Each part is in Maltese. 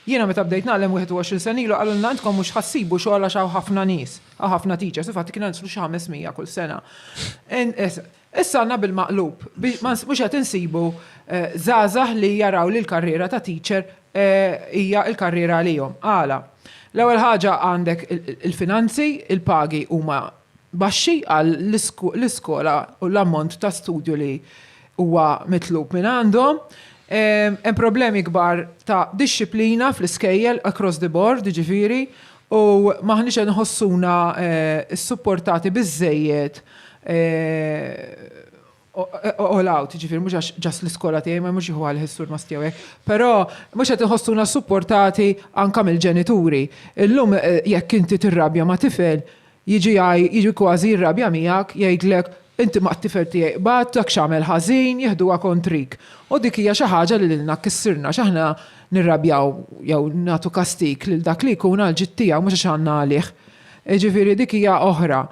Jiena meta bdejt nagħlem 21 sena ilu qalulna intkom mhux ħa ssibu xogħol għax hawn ħafna nies, hawn ħafna teachers, infatti kienu nislu xi 500 kull sena. Issa għandna bil-maqlub, mhux qed insibu żgħażagħ li jaraw li l-karriera ta' teacher hija l-karriera għalihom. Għala? L-ewwel ħaġa għandek il-finanzi, il-pagi huma baxxi għal l-iskola u l-ammont ta' studju li huwa mitlub minn għandhom. Hemm problemi kbar ta' dixxiplina fl-iskejjel across the board, jiġifieri, u m'aħniex qed nħossuna ssupportati biżżejjed all out, jiġifieri mhux għax ġast l-iskola tiegħi ma mhux jieħu għalih is-sur Masti hawnhekk, però mhux qed inħossuna supportati anke mill-ġenituri. Illum jekk inti tirrabja ma' tifel, jiġi jiġi kważi jirrabja miegħek, jgħidlek, inti mat-tifel tiegħi qbadt, dak x'għamel ħażin, jieħduha kontrik. U dik hija xi ħaġa li lilna kkissirna għax aħna nirrabjaw jew nagħtu kastig lil dak li jkun għall-ġid tiegħu mhux għax għandna għalih. Jiġifieri dik hija oħra.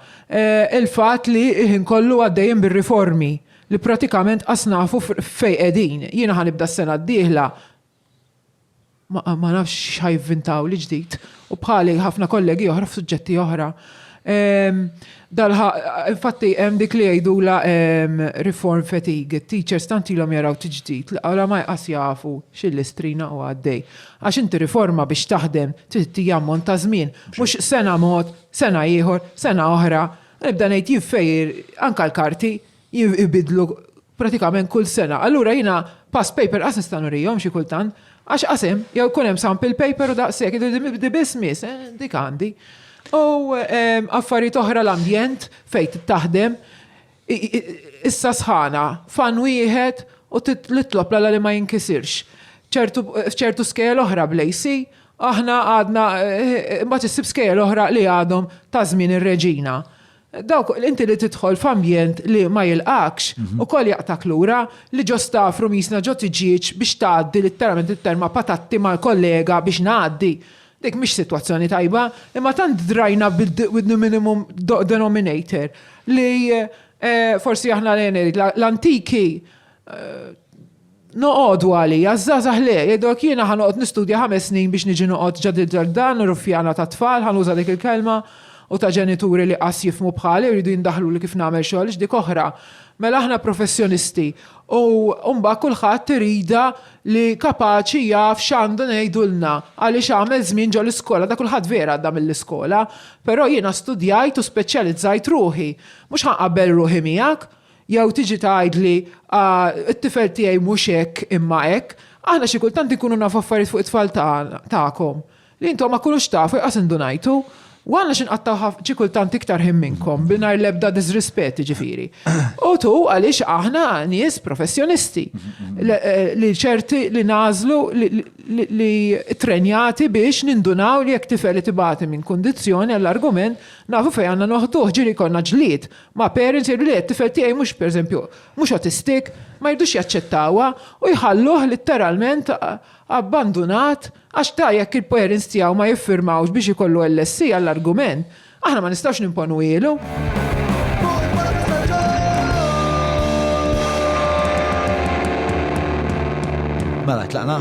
Il-fatt li l-ħin kollu għaddejjin bir-riformi li pratikament qas nafu fejn qegħdin. Jiena ħa nibda s-sena d-dieħla ma nafx x'ħa jivvintawli ġdid u bħali ħafna kollegi oħra f'suġġetti oħra. Infatti hemm dik li jgħidulha reform fatigue. It-teachers tant ilhom jaraw tiġdid li oramaj qas jafu x'illustrina u għaddej. Għax inti riforma biex taħdem trid tiehi ammont ta' żmien, mhux sena mod, sena ieħor, sena oħra. Nibda ngħid jien fej anke l-karti jibidlu pratikament kull sena. Allura jiena past paper qas nista' nurihom xi kultant għax qas hemm, jew ikun hemm sample paper u daqshekk, di biss miss, eh, dik għandi. U ehm, affarijiet oħra l-ambjent fejn taħdem, Issa sħana, f'għan wieħed u titlob l-Alla li ma jinkisirx. F'ċertu skejjel oħra bl-AC, aħna għadna, imbagħad issib skejjel oħra li għadhom ta' żmien ir-Reġina. Dawk, inti li tidħol f'ambjent li ma jilqgħakx, ukoll jaqtgħak lura, li ġo staff rumisna ġo tiġieġ biex tgħaddi litteralment it-terma patatti mal-kollega biex ngħaddi. Dik mhix sitwazzjoni tajba, imma tant drajna with the minimum denominator li eh, forsi aħna l-enerit, l-antiki eh, noqogħdu għalija, żgħażagħ le, jgħidok jiena ħanoqgħod nistudja ħames snin biex niġi noqgħod ġad il-ġardan, ruffjana ta' tfal, ħanuża dik il-kelma, u ta' ġenituri li qas jifmu bħali jridu jindaħlu li kif nagħmel xogħol dik oħra. Mela aħna professjonisti u mbagħad kulħadd irida li kapaċi jaf x'għandu ngħidulna għaliex għamel żmien ġol-iskola da kulħadd vera għadda mill-iskola però jiena studjajt u speċjalizzajt ruħi mhux ħa nqabbel ruħi miegħek jew tiġi tgħidli ah it-tifel tiegħi mhux hekk imma hekk aħna xi kultant inkunu nafu affarijiet fuq it-tfal tagħna tagħkom Li intom ma kunux tafu jqas indunajtu, u għandna xi nqattgħu xi kultant iktar ħin minnkom bingħajr l-ebda diżrispett jiġifieri. U tu għaliex aħna nies professjonisti li ċerti li nagħżlu li ttrenjati biex nindunaw li jekk tifel qed ibati minn kundizzjoni għall-argument nafu fejn għandna noħduh ġieli jkollna ġlied ma' parents jgħidu le t-tifel tiegħi mhux pereżempju mhux autistic ma jridux jaċċettawha u jħalluh litteralment abbandunat Għax ta' jekk il-parents tiegħu ma jiffirmawx biex ikollu LSC għall-argument, aħna ma nistgħux nimponuhielu. Mela tlaqna?